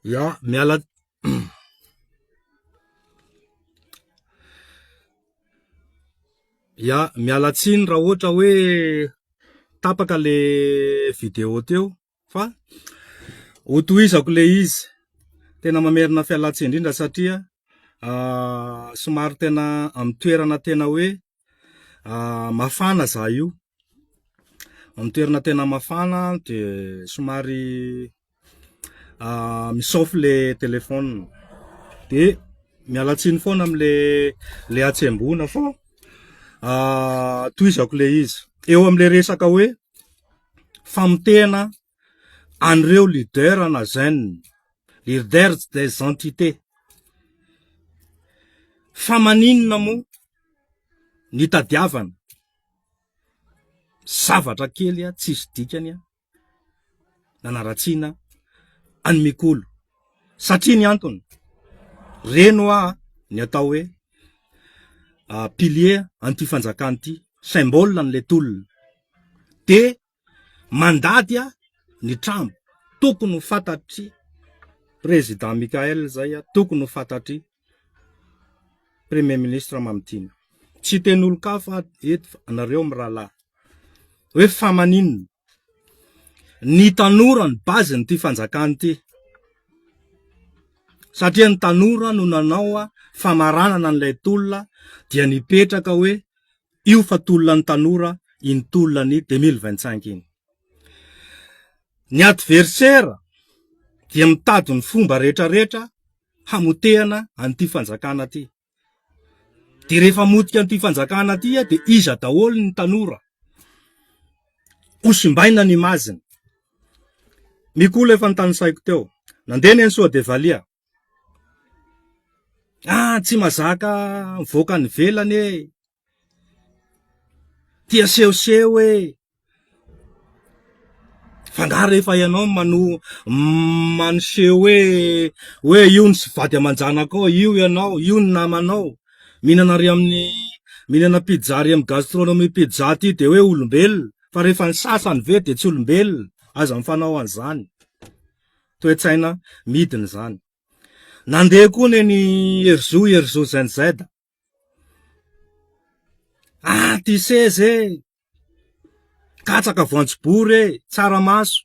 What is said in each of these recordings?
Ya, miala Ya, miala tsiny raha ohatra hoe tapaka le vidéo teo fa ho tohizako le izy. Tena mamerina fialantsiny indrindra satria somary tena amin'ny toerana tena hoe Ah, mafana zah io, amin'ny toerana tena mafana de somary ah mi-chauffe le téléphone, de miala tsiny foana amle le hatsembohana fa ah tohizako le izy, eo amle resaka hoe famotehana. an'ireo leader ana zen, leaders des entités, fa maninona moa ny tadiavana, zavatra kely a tsisy dikany a nanaratsiana an'i Mikolo, satria ny antony reny hoa ny atao hoe pilier an'ity fanjakana ity, symbole an'ilay tolona dia mandady a ny trambo tokony ho fantatry président Mickaël zay a tokony ho fantatry premier ministre Mamitiana tsy hiteny olon-kafa aho eto fa anareo mirahalahy hoe fa maninona ny tanora ny base ny ty fanjakana ty satria ny tanora no nanao a famaranana an'ilay tolona dia nipetraka hoe Io fa tolona ny tanora iny tolona ny deux mille vingt cinq iny. Ny adversaire dia mitady ny fomba rehetra rehetra hamotehana an'ity fanjakana ty. Dia rehefa motika an'ity fanjakana ty dia iza daholo ny tanora? Ho simbaina ny image-ny. Mikola efa notanisaiko teo. Nandeha ny an'i Soadevalia. Ah tsy mazaka mivoaka any ivelany e! Tia sehoseho e! Fa nga rehefa ianao no maneho hoe hoe io ny vady aman-janakao, io ianao, io ny namanao, mihinana ary amin'ny mihinana pizza ary amin'ny gastronomie pizza ity dia hoe olombelona fa rehefa ny sasany ve dia tsy olombelona? Aza mifanao an'izany. toe-tsaina midina izany. Nandeha koa neny Herizo, Herizo ZZ. Ah, ty seza e! Katsaka voanjobory e! Tsaramaso.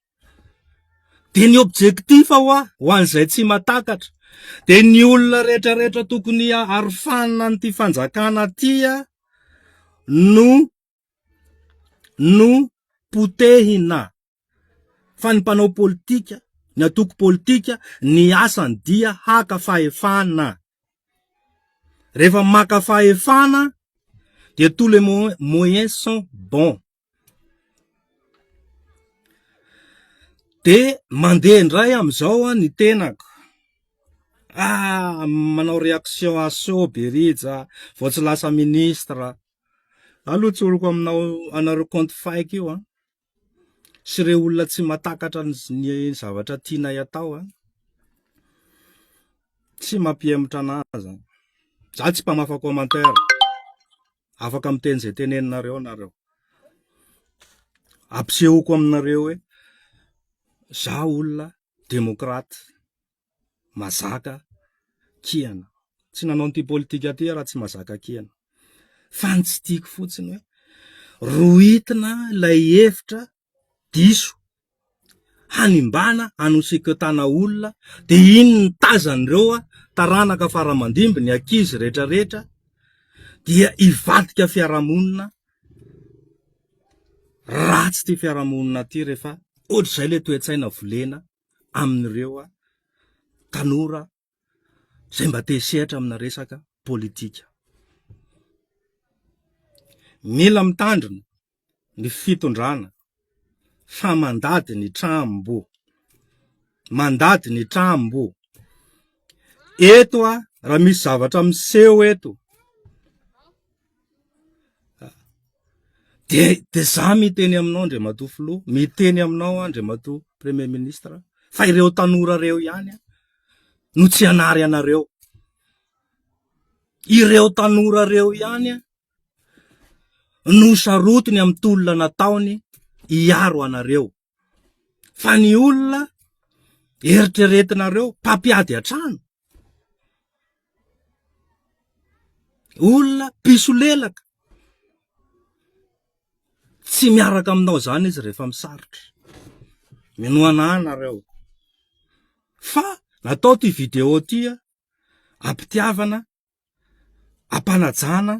Dia ny objectif ho ahy, ho an'izay tsy matakatra, dia ny olona rehetrarehetra tokony arofanina an'ity fanjakana tia no no potehina fa ny mpanao politika, ny antoko politika ny asany dia haka fahefana. Rehefa maka fahefana dia tous les moyens sont bons. Dia mandeha indray amin'izao an ny tenako. Ah, manao réaction à chaud Berija, vao tsy lasa ministre. Alo tsoriko aminao anareo compte fake io an! Sy ireo olona tsy matakatra ny zavatra tianay atao an! Tsy mampihemotra anah zany. Za tsy mpamafa commentaire. Afaka miteny izay teneninareo nareo. Ampisehoko aminareo hoe za olona demokraty. mazaka kiana. Tsy nanao an'ity politika ty aho raha tsy mazaka kiana. Fa ny tsy tiako fotsiny hoe rohitina ilay hevitra diso hanimbana hanosikotana olona dia iny ny tazan'ireo taranaka faramandimby ny ankizy rehetra rehetra dia hivadika fiarahamonina ratsy ty fiarahamonina ty rehefa ohatr'izay le toe-tsaina volena amin'ireo tanora izay mba te hisehatra amina resaka politika. Mila mitandrina ny fitondrana fa mandady ny trambo, mandady ny trambo. Eto a, raha misy zavatra miseho eto, Dia dia izaho miteny aminao Andriamatoa Filoha, miteny aminao aho Andriamatoa Premier Ministre fa ireo tanora ireo ihany no tsy hanary anareo. Ireo tanora ireo ihany no sarotiny amin'ny tolona nataony hiaro anareo. fa ny olona eritreretinareo mpampiady an-trano, olona mpisolelaka, tsy miaraka aminao izany izy rehefa misarotra, minoana ahy nareo, fa natao ity video ity an, ampitiavana, ampanajana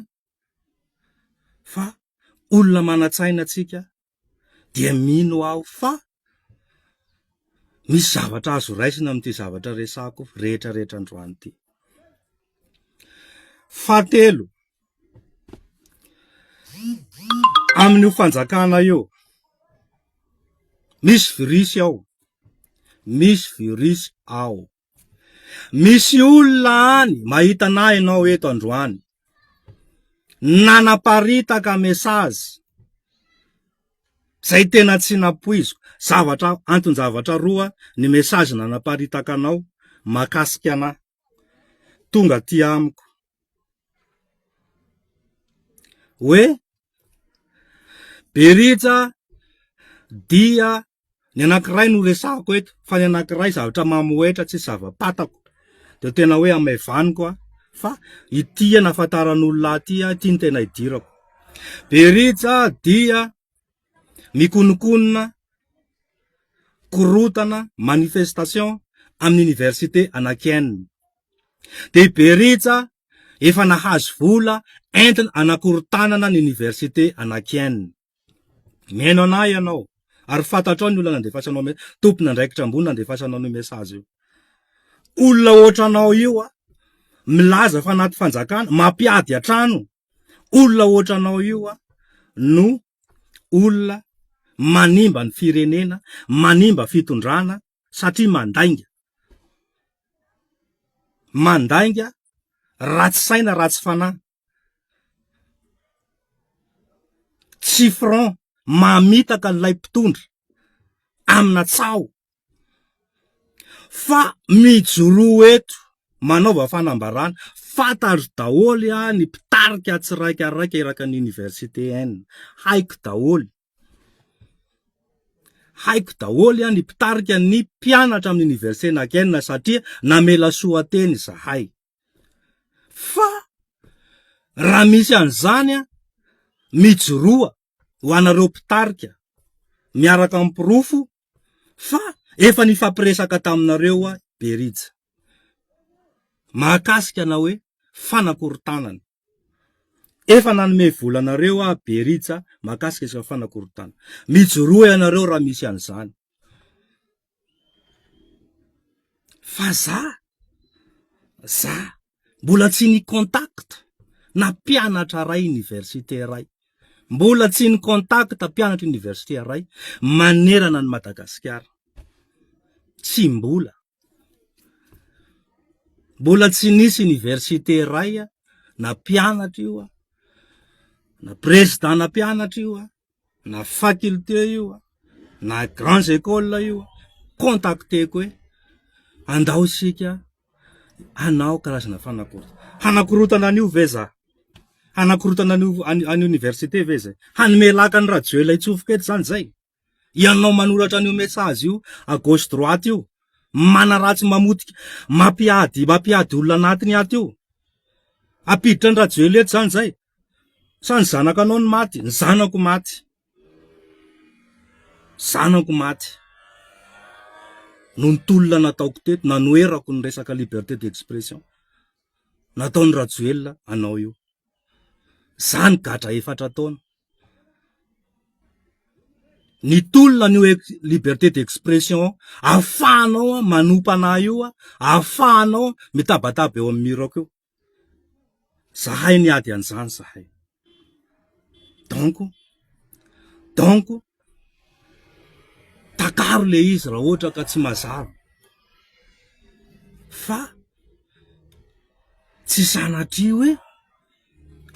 fa olona manan-tsaina tsika, dia mino aho fa misy zavatra azo raisina amin'ity zavatra resako rehetra rehetra androany ity. Fahatelo, amin'io fanjakana io, misy virus ao, misy virus ao. Misy olona any mahita anah ianao eto androany. Nanaparitaka message zay tena tsy napoiziko. Zavatra anton-javatra roa ny message nanaparitaka anao makasika anah. Tonga aty amiko. Hoe Berija dia Ny anankiray no resahako eto fa ny anankiray zavatra mamohehitra tsy zava-patako dia tena hoe hamaivaniko aho fa ity hanafantaran'olona ahy ity aho ity ny tena hidirako. Berija dia mikonokonona korotana manifestation amin'ny université Anakienne. Dia i Berija efa nahazo vola entina anakorotanana ny université Anakienne. Mihaino anah ianao ary fantatrao ny olona nandefasanao mes, tompon'andraikitra ambony nandefasanao an'io message io. Olona ohatranao io a, milaza fa anaty fanjakana, mampiady an-trano. Olona ohatranao io a no olona manimba ny firenena, manimba fitondrana satria mandainga. Mandainga, ratsy saina, ratsy fanahy. tsy franc mamitaka an'ilay mpitondra amina tsaho fa mijoroa eto manaova fanambarana fantatro daholo aho ny mpitarika tsiraikaraiky eraky ny oniversite N haiko daholo haiko daholo aho ny mpitarika ny mpianatra amin'ny oniversite nankena satria namela soa teny zahay Fa raha misy an'izany an, mijoroa ho anareo mpitarika miaraka amin'ny porofo fa efa nifampiresaka taminareo aho Berija mahakasika na hoe fanakorontanana. Efa nanome vola anareo aho Berija mahakasika izao fanakorontana. Mijoroa ianareo raha misy an'izany. Fa za, za mbola tsy ny contact na mpianatra ray université ray. Mbola tsy ny contact mpianatra université ray manerana ny Madagasikara. Tsy mbola. Mbola tsy nisy université iray na mpianatra io an, na président na mpianatra io an, na faculté io an, na grands écoles io an, contacter-ko hoe andao isika hanao karazana fanakoro- hanakorotana an'io ve za, hanakorotana an'io an'io université ve zay, hanome laka an'i rajoelina hitsofoko eto zany zay. Ianao manoratra an'io message io à gauche droite io, manaratsy mamotika, mampiady mampiady olona anatiny ato io. Ampiditra ny Rajoelina eto zany zay. Sa ny zanakanao no maty? Ny zanako maty. Zanako maty. Noho ny tolona nataoko teto, nanoherako ny resaka liberté d'expression. Nataon'i Rajoelina anao io. Zany gadra efatra taona. Ny tolona an'io liberté d'expression ahafahanao manompa anà io, ahafahanao mitabataba eo amin'ny mur-ko eo. Zahay niady an'izany zahay. Donc, donc takaro ilay izy raha ohatra ka tsy mazava fa tsy sanatria hoe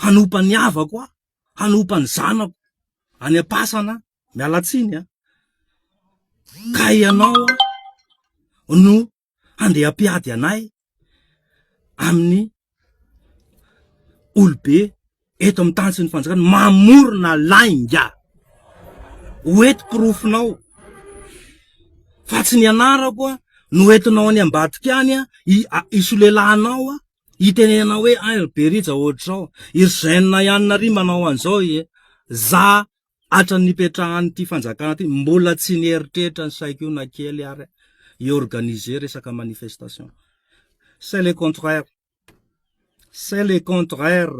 hanompa ny havako aho. hanompa ny zanako any am-pasana aho, miala tsiny an, ka ianao aho no handeha hampiady anay amin'ny olobe eto amin'ny tany sy ny fanjakana, mamorona lainga, ho eto porofonao fa tsy ny anarako no entinao any ambadika any an, hisolelahanao an. Itenenana hoe an ry berija ohatr'izao, i ry zen ihany nary manao an'izao ee, za hatran'ny nipetrahan'ity fanjakana ity mbola tsy nieritreritra ny saiko io na kely ary aho hi organiser resaka manifestation, c'est le contraire, c'est le contraire,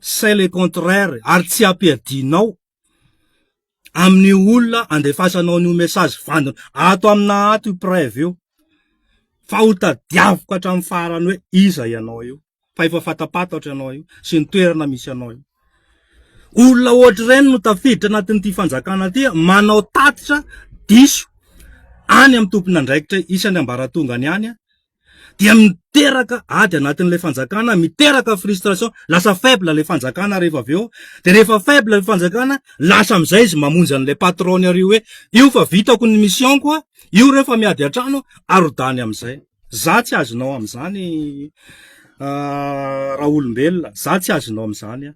c'est le contraire ary tsy ampiadinao amin'io olona andefasanao an'io message vandina ato amina ato io preuve io fa ho tadiaviko hatramin'ny farany hoe iza ianao io fa efa fatapatatra ianao io sy ny toerana misy anao io olona ohatra ireny no tafiditra anatin'ity fanjakana ity manao tatitra diso any amin'ny tompon'andraikitra isany ambaratongany any dia miteraka ady anatin'ilay fanjakana miteraka frustration lasa faible ilay fanjakana rehefa avy eo de rehefa faible ilay fanjakana lasa amin'izay izy mamonjy an'ilay patron-ny ary hoe io fa vitako ny mission koa io rehefa miady an-trano arodany amin'izay za tsy azonao amin'izany ah, raha olombelona za tsy azonao amin'izany ah.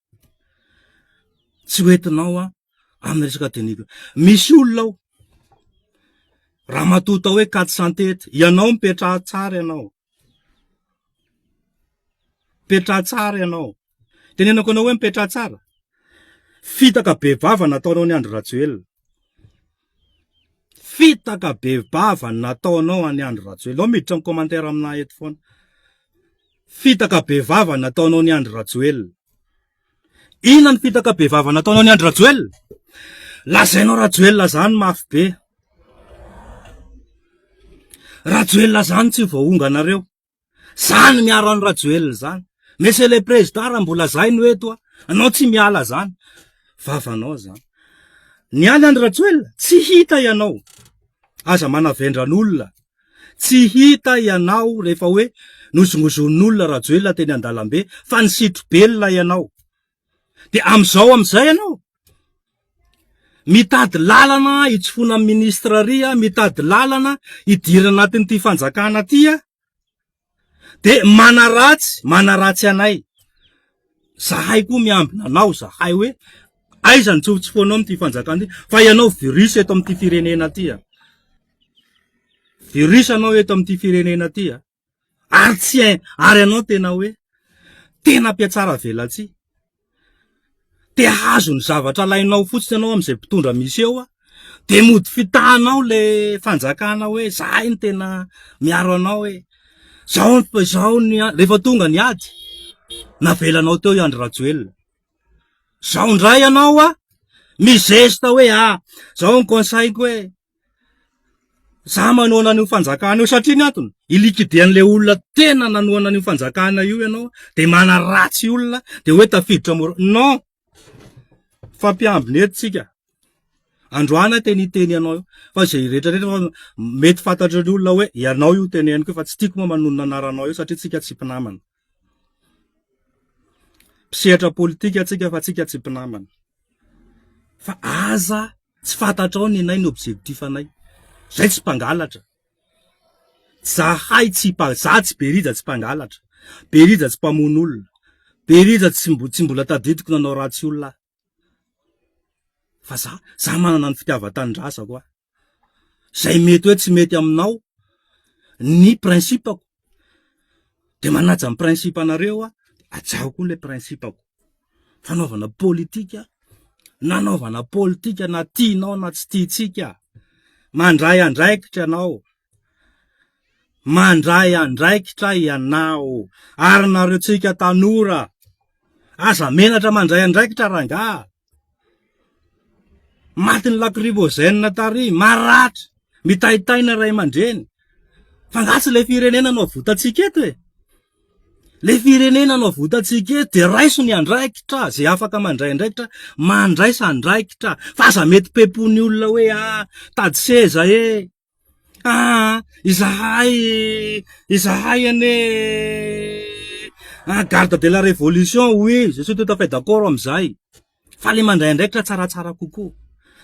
Tsy ho entinao an, amin'ny resaka tenue-ko. Misy olona ao, ramatoa atao hoe Kate Santety, ianao mipetraha tsara ianao, mipetraha tsara ianao, tenenako anao hoe mipetraha tsara, fitaka bevava nataonao an'i Andry Rajoelina. Fitaka be vava ny nataonao an'i Andry Rajoelina. Miditra amin'ny commentaire aminà eto foana. Fitaka be vava ny nataonao an'i Andry Rajoelina. Inona ny fitaka be vava nataonao an'i Andry Rajoelina? Lazainao Rajoelina zany mafy be. Rajoelina zany tsy voahonganareo. Zany miaro an'i Rajoelina zany. Monsieur le Président, raha mbola zay no eto a, anao tsy miala zany. Vavanao zany. Ny any an'i Rajoelina, tsy hita ianao. Aza manavendran'olona. Tsy hita ianao rehefa hoe nozongozon'olona Rajoelina teny an-dalambe fa ny sitro belona ianao. Dia amin'izao amin'izay ianao mitady lalana hitsofoana amin'ny ministra ary aho, mitady lalana hidirana anatin'ity fanjakana ity aho, dia manaratsy, manaratsy anay. Zahay koa miambina anao, zahay hoe aiza ny tsy ho tsofoinao amin'ity fanjakana ity, fa ianao virus eto amin'ity firenena ity an! Virus ianao eto amin'ity firenena ity an! ary tsy hay ary ianao tena hoe tena mpiatsara velatsihy te hahazo ny zavatra alainao fotsiny ianao amin'izay mpitondra misy eo ah dia mody fitahanao le fanjakana hoe zahay ny tena miaro anao hoe zao ny zao ny rehefa tonga ny ady navelanao teo i Andry Rajoelina zao indray ianao ah mizesta hoe ah zao ny conseil-ko hoe Za manohana an'io fanjakana io satria ny antony i liquider an'le olona tena nanohana an'io fanjakana io ianao de manaratsy olona de hoe tafiditra mora non fampiambina eto tsika androany aho tena hiteny anao io fa zay rehetra rehetra fa mety fantatry ny olona hoe ianao io teneniko io fa tsy tiako moa manonona anaranao io satria tsika tsy mpinamana Mpisehatra politika tsika fa tsika tsy mpinamana. Fa aza tsy fantatrao ny anay ny objectif anay. Zay tsy mpangalatra. Zahay tsy mpa- za tsy be rija tsy mpangalatra, be rija tsy mpamono olona, be rija tsy mbo- tsy mbola tadidiko nanao ratsy olona aho. Fa za, za manana ny fitiavan-tanindrazako aho. izay mety hoe tsy mety aminao ny principe-ko dia manaja ny principe-nareo aho dia hajahako koa ilay principe-ko, fanaovana politika, nanaovana politika na tianao na tsy tiantsika, mandray andraikitra ianao. mandray andraikitra ianao ary nareo tsika tanora aza menatra mandray andraikitra rangaha matin'ny lakrivozenina tary maratra mitaitaina ray aman-dreny fa nga tsy le firenena no votantsika eto e le firenena no votantsika eto dia raiso ny andraikitra zay afaka mandray andraikitra mandraisa andraikitra fa aza mety pepony olona hoe ah tady seza e Ah! izahay, izahay anie ah, garde de la révolution oui, je suis tout à fait d'accord amin'izay, fa le mandray andraikitra tsaratsara kokoa,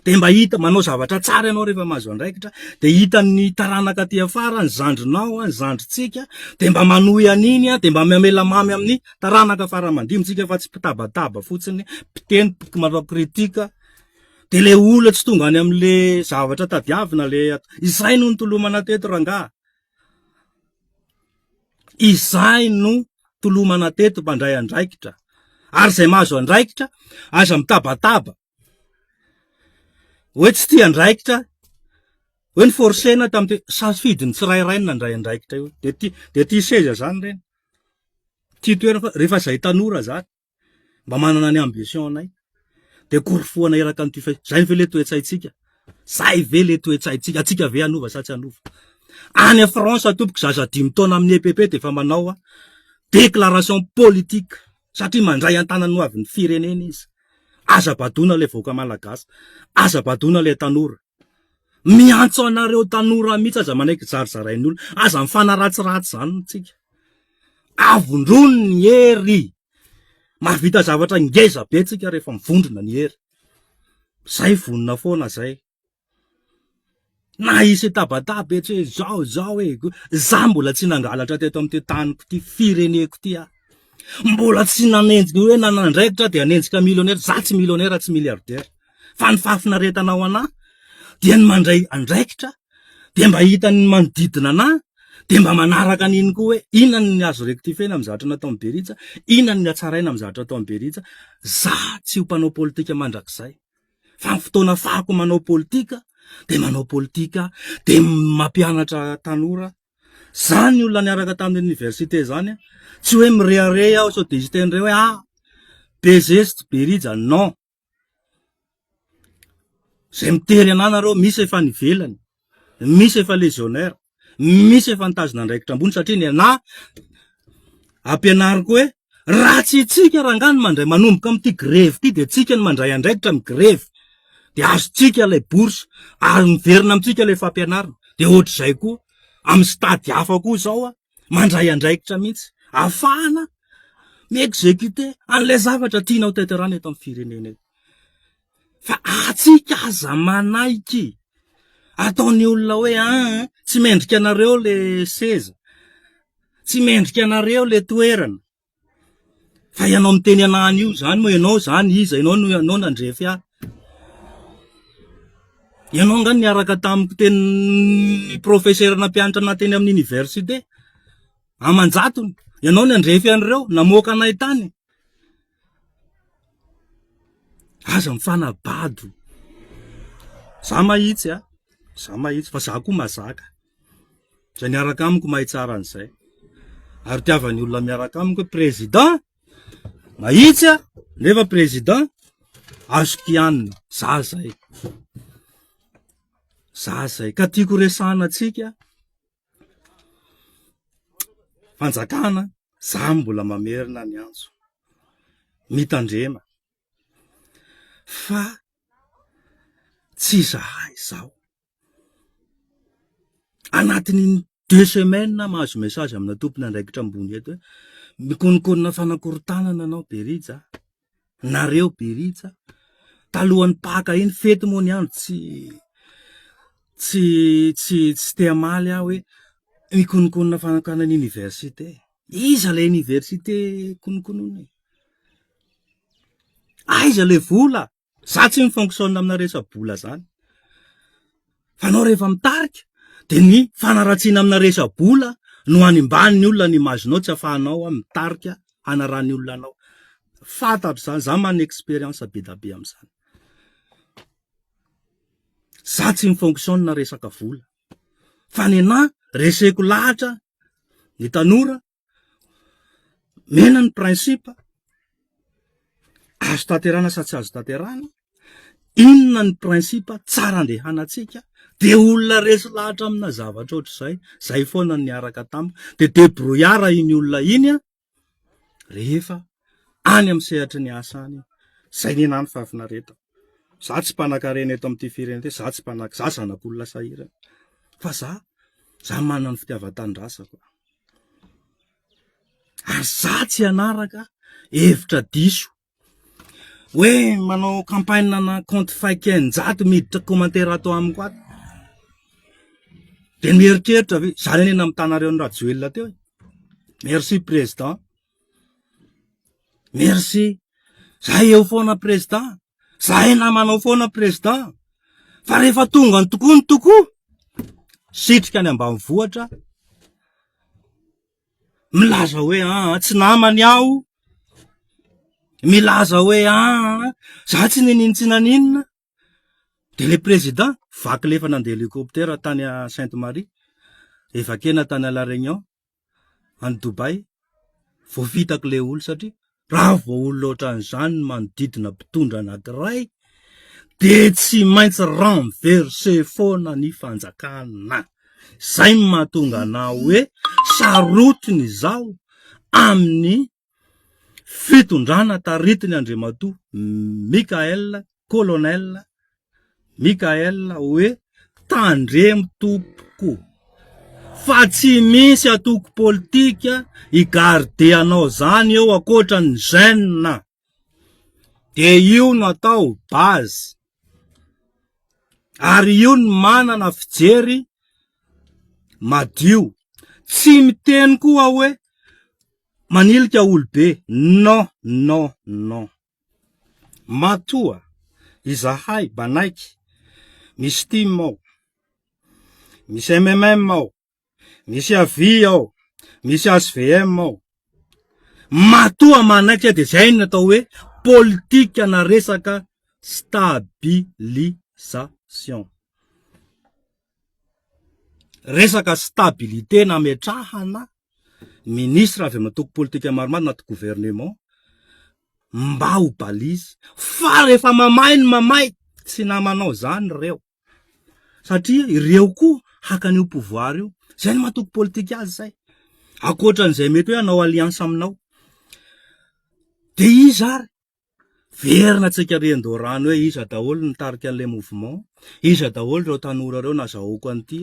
dia mba hita, manao zavatra tsara ianao rehefa mahazo andraikitra, dia hitan'ny taranaka aty afara, ny zandrinao, ny zandrintsika, dia mba manohy an'iny, dia mba mamela mamy amin'ny taranaka fara aman-dinintsika fa tsy mpitabataba fotsiny, mpiteny, manao critique. De le olona tsy tonga any amle zavatra tadiavina le izay no nitolomana teto rangaha. Izay no tolomana teto mpandray andraikitra. Ary izay mahazo andraikitra aza mitabataba. Hoe tsy tia andraikitra, hoe ny forcena tamin'ity safidy ny tsirairay no nandray andraikitra io. De ty de ty seza zany reny. Ty toerana fa rehefa izay tanora zany. mba manana ny ambition anay de korofohana eraka an'ity fe zay ve le toetsaintsika zay ve le toetsaintsika atsika ve anova sa tsy anova any a France tompoko zaza dimy taona amin'ny EPP de efa manao a déclaration politique satria mandray an-tanany ho avin'ny firenena izy aza badoina le vahoaka malagasy aza badoina le tanora Miantso anareo tanora mihitsy aza manaiky zarizarain'ny olona, aza mifanaratsiratsy izany isika. Avondrony ny hery, mahavita zavatra ngeza be tsika rehefa mivondrona ny hery. Zay vonona foana zay. Na hisy tabataba etsy hoe zao zao e, za mbola tsy nangalatra teto amin'ity taniko ity, fireneko ity aho. Mbola tsy nanenjika hoe nanandraikitra aho dia hanenjika millionnaire, za tsy millionnaire tsy milliardaire. fa ny fahafinaretana ao anah dia ny mandray andraikitra de mba hitan'ny manodidina anah de mba manaraka an'iny koa hoe inona ny azo rectifier-na amin'ny zavatra nataon'i Beritsa, inona ny hatsaraina amin'ny zavatra nataon'i Beritsa. Za tsy ho mpanao politika mandrakizay fa ny fotoana afahako manao politika de manao politika de mampianatra tanora Zany ny olona niaraka tamin'ny université zany an, tsy hoe mirehareha aho sao dia hisy teny iray hoe ah be zesty be rija, non, Izay mitery anà nareo, misy efa any ivelany, misy efa légionnaire, misy efa nitazona andraikitra ambony satria ny anà ampianariko hoe raha tsy antsika rangahy no mandray manomboka amin'ity grevy ity dia antsika no mandray andraikitra amin'ny grevy dia azontsika ilay bourse ary miverina amintsika ilay fampianarana dia ohatr'izay koa amin'ny stade hafa koa izao an! mandray andraikitra mihitsy afahana mi-executer an'ilay zavatra tianao tanterahina eto amin'ny firenena eto. Fa atsika aza manaiky ataon'ny olona hoe an ah, tsy mendrika anareo le seza, tsy mendrika anareo le toerana, Fa ianao miteny anà an'io izany moa ianao izany iza? Ianao no ianao nandrefy ahy. Ianao angaha niaraka tamiko teny ny professeur nampianatra anà teny amin'ny université aman-jatony. Ianao nandrefy an'ireo, namoaka anay tany. Aza mifanabado. Izaho mahitsy an, izaho mahitsy fa izaho koa mahazaka. Izay miaraka amiko mahay tsara an'izay. Ary tiavan'ny olona miaraka amiko président mahitsy aho nefa président azo kianina. Za zay. Za zay. Ka tiako resahana antsika fanjakana za mbola mamerina ny antso. Mitandrema. Fa tsy izahay izao. Anatin'iny deux semaines aho mahazo message amina tompon'andraikitra ambony eto hoe, mikononkonona fanakorontanana anao Berija a, nareo Berija a, talohan'ny Paka iny, fety moa ny andro tsy tsy tsy tsy te hamaly aho hoe, mikononkonona fanakorontanana ny université, iza ilay université kononkonona e? Aiza ilay vola? Za tsy mi-fonctionne amina resa-bola zany. Fa anao rehefa mitarika de ny fanaratsiana amina resa-bola no animbany ny olona ny image-nao tsy afahanao a mitarika hanarany olona anao. Fantatro zany, za manana expérience be da be amzany. Za tsy mi-fonctionne resaka vola fa nenah reseko lahatra ny tanora Mena ny principe, azo tanterana sa tsy azo tanterana, inona ny principe tsara andehanantsika, dia olona resy lahatra amina zavatra ohatr'izay, izay foana ny niaraka tamiko, dia debrouillard iny olona iny an, rehefa any amin'ny sehatry ny asa any, izay ny ahy ny fahafinaretana. Za tsy mpanankarena eto amin'ity firenena ity, za tsy mpanan-, za zanak'olona sahirana, fa za, za manana ny fitiavan-tanindrazako. ary za tsy hanaraka hevitra diso hoe manao campagne ana compte fake eninjato miditra commentaire ato amiko ato dia mieritreritra ve zany anie namitana anareo an'i rajoelina teo e merci président Merci. Zahay eo foana prezida. Zahay namanao foana prezida. Fa rehefa tonga ny tokoa ny tokoa, sitrika any ambanivohitra, milaza hoe aa, tsy namany aho, milaza hoe aa, za tsy ninintsina ninona, Dia ilay président vaky ilay efa nandeha hélicoptère tany à Sainte Marie, evakena tany à la Réunion, any Dubaï, vao vitako ilay olona satria raha vao olona ohatran'izany ny manodidina mpitondra anankiray dia tsy maintsy renverse foana ny fanjakana. Izay no mahatonga anao hoe sarotiny izao amin'ny Fitondrana taritin' Andriamatoa Michael, Colonel Michael hoe tandremo tompoko fa tsy misy antoko politika hi garder anao zany eo ankoatran'ny jeune dia io no atao base. Ary io ny manana fijery madio. Tsy miteny koa aho hoe manilika olobe. Non, non, non. Matoa izahay banaiky misy tim ao, misy MMM ao, misy avi ao, misy HVM ao. Matoa manaiky aho dia izay no atao hoe politika na resaka stabilisation. Resaka stabilité nametrahana ministre avy amin'ny antoko politika maromaro anaty gouvernement mba ho balise fa rehefa mamay ny mamay tsy namanao izany ireo. satria ireo koa hakany io pouvoir io, zay ny mahatoky politika azy zay, akoatran'izay mety hoe hanao alliance aminao, de iza ary, verina tsy an-karian-doharano hoe iza daholo ny nitarika an'ilay mouvement, iza daholo ireo tanora ireo nazahoako an'ity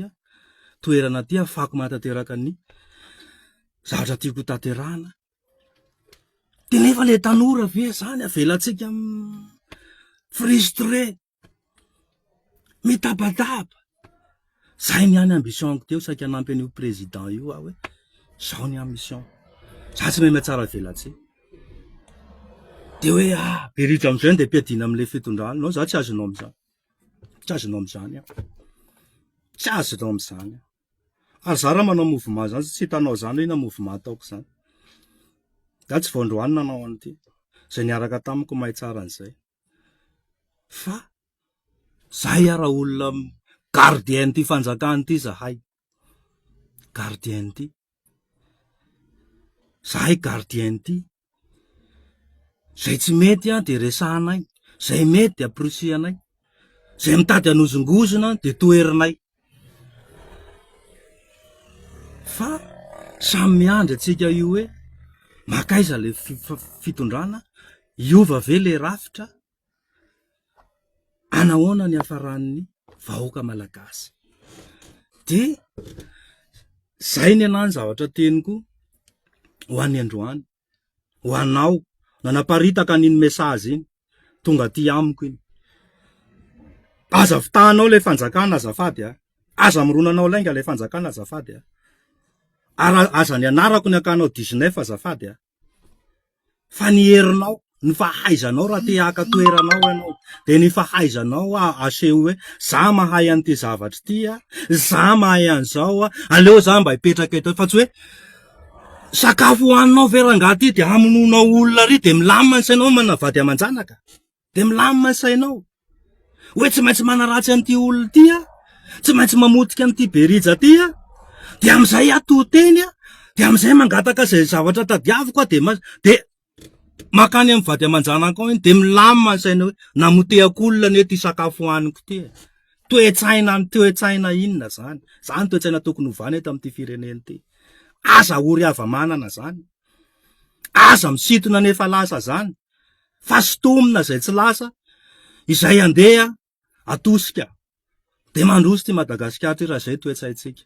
toerana ty hafahako manatanteraka ny zavatra tiako ho tanterahina, de nefa ilay tanora ve zany avelantsika mi-frustrer. Mitabataba, zay ny any ambition-ko teo saika hanampy an'io président io aho hoe zao ny ambition-ko, za tsy mahay mahatsaravelatsihy, de hoe ah be ritra amizay de ampiadina amle fitondrana, non za tsy azonao amizany, tsy azonao amizany aho, tsy azonao amizany aho, ary za raha manao mouvement zany tsy hitanao zany hoe inona mouvement ataoko zany, za tsy vao androany nanao an'ity, zay niaraka tamiko mahay tsara an'izay. Fa zay ara olona gardien ity fanjakana ity zahay, gardien ity, zahay gardien ity, zay tsy mety an dia resahanay, zay mety dia porisihanay, zay mitady hanozongozona dia toherinay. Fa samy miandry antsika io hoe mankaiza le fitondrana, hiova ve le rafitra, anahoana ny hafaran'ny vahoaka malagasy. De zay ny anahy ny zavatra teniko ho any androany. ho anao nanaparitaka an'iny message iny tonga aty amiko iny aza vitahanao ilay fanjakana azafady a aza mironanao lainga ilay fanjakana azafady a ary aza ny anarako ny akanao dix neuf azafady a fa ny herinao ny fahaizanao raha te haka toerana ao ianao dia ny fahaizanao aseho hoe za mahay an'ity zavatra ity a, za mahay an'izao a, aleo za mba hipetraka eto fa tsy hoe sakafo hohaninao ve rangaha ity dia hamonoanao olona ary dia milamina ny sainao manana vady aman-janaka, dia milamina ny sainao hoe tsy maintsy manaratsy an'ity olona ity aho, tsy maintsy mamotika an'ity be rija ity aho, dia amin'izay aho to-teny a, dia amin'izay mangataka izay zavatra tadiaviko aho dia, dia. makany amin'ny vady aman-janako any dia milamina ny saina hoe namotehako olona anie ity sakafo hohaniko ity e! Toe-tsaina toe-tsaina inona izany? Izany no toe-tsaina tokony hovana eto amin'ity firenena ity. Aza ory hava-manana izany. Aza misintona ny efa lasa izany fa sintomina izay tsy lasa, izay andeha atosika dia mandroso ity Madagasikara ity raha izay toe-tsaintsika.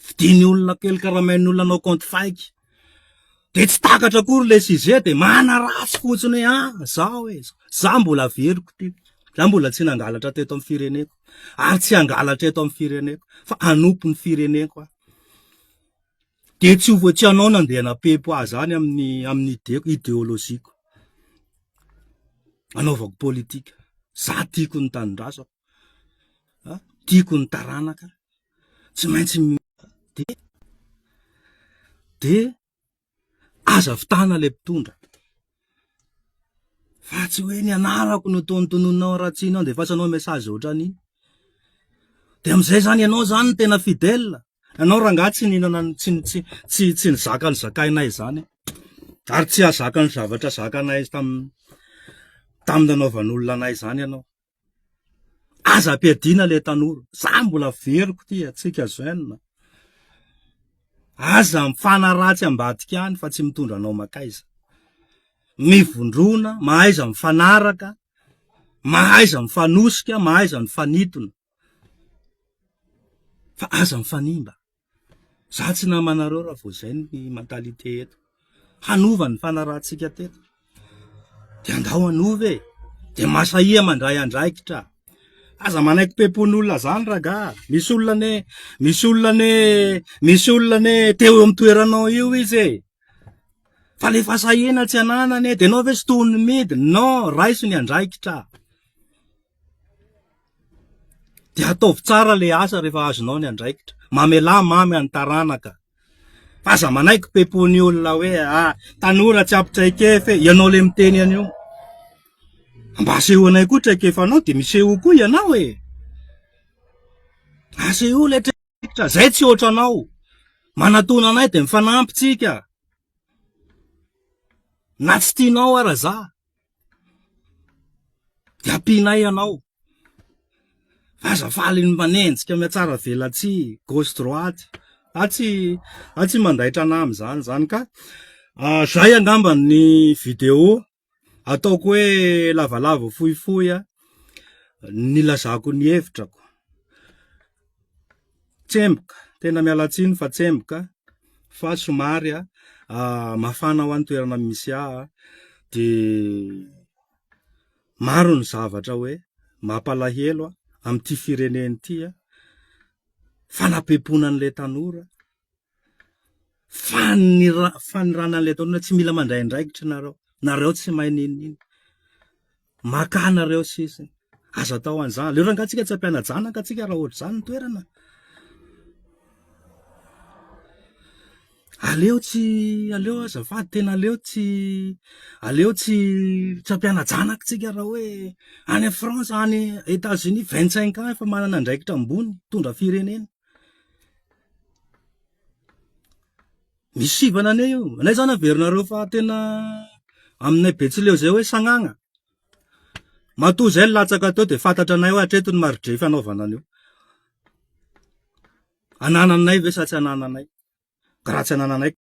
Vidian'ny olona kely karamain'ny olona anao kaonty fake. Dia tsy takatra akory ilay size dia manaratsy fotsiny hoe ah zaho e, za mbola averiko ity, za mbola tsy nangalatra teto amin'ny fireneko ary tsy hangalatra eto amin'ny fireneko fa hanompo ny fireneko aho. Dia tsy ho voatsianao na dia napepo aza any amin'ny amin'ny ideko, ideologie-ko, anaovako politika. Za tiako ny tanindrazako, an, tiako ny taranaka, tsy maintsy mi, dia dia aza vitana ilay mpitondra, Fa tsy hoe ny anarako no tonontononao Ratsina andefasanao message ohatran'iny. Dia amin'izay izany ianao izany no tena fidèle. Ianao rangahy tsy nihinana tsy tsy tsy tsy nizaka ny zakainay izany ary tsy hahazaka ny zavatra zakanay tamin'ny tamin'ny nanaovan'olona anay izany ianao. Aza ampiadiana ilay tanora, za mbola averiko ity antsika jeune, aza mifanaratsy ambadika any fa tsy mitondra anao mankaiza, mivondrona, mahaiza mifanaraka, mahaiza mifanosika, mahaiza mifanintona, fa aza mifanimba. Za tsy nama anareo raha vao zay ny mentalité eto. Hanova ny fanarahantsika teto de andao hanova e! De masahia mandray andraikitra. Aza manaiky pempon'olona zany ragah, misy olona anie, misy olona anie, misy olona anie te ho eo amin'ny toeranao eo izy e! Fa le fahasahiana tsy ananany e! De ianao ve tsy tohon'ny midina? Non, raiso ny andraikitra. Dia ataovy tsara ilay asa rehefa azonao ny andraikitra. Mamelà mamy an'ny taranaka. Fa aza manaiky pepony olona hoe ah, tanora tsy ampy traikefa e, ianao ilay miteny an'io. Mba asehoanay koa traikefanao dia miseho koa ianao e. Asehoy ilay traikefa, izay tsy ohatranao. Manatona anay dia mifanampy tsika. Na tsy tianao ara za de ampianay anao fa aza faly manenjika miatsara velatsihy gauche droite atsy atsy mandaitra anah amzany zany ka zay angamba ny video ataoko hoe lavalava fohifohy a, nilazako ny hevitrako. Tsemboka, tena miala tsiny fa tsemboka fa somary a ah, mafana ho an'ny toerana misy ahy de maro ny zavatra hoe mampalahelo amin'ity firenena ity a, fanapempoana an'ilay tanora. Fanira- fanirana an'ilay taona hoe tsy mila mandray andraikitra nareo, nareo tsy mahay n'inon'inona, makà nareo sisiny, aza atao an'izany, aleo rangah tsika tsy ampiana-janaka tsika raha ohatr'izany ny toerana, aleo tsy, aleo azafady tena aleo tsy, aleo tsy tsy ampiana-janaka tsika raha hoe any France, any Etats-Unis vingt cinq ans efa manana andraikitra ambony, mitondra firenena. Misy sivana anie io. Anay izany averinareo fa tena aminay Betsileo izay hoe sagnagna. Matoa izay ny latsaka teo dia fantatra anay hoe hatreto ny maridrefy hanaovana an'io. Anananay ve sa tsy anananay? Ka raha tsy anananay ka.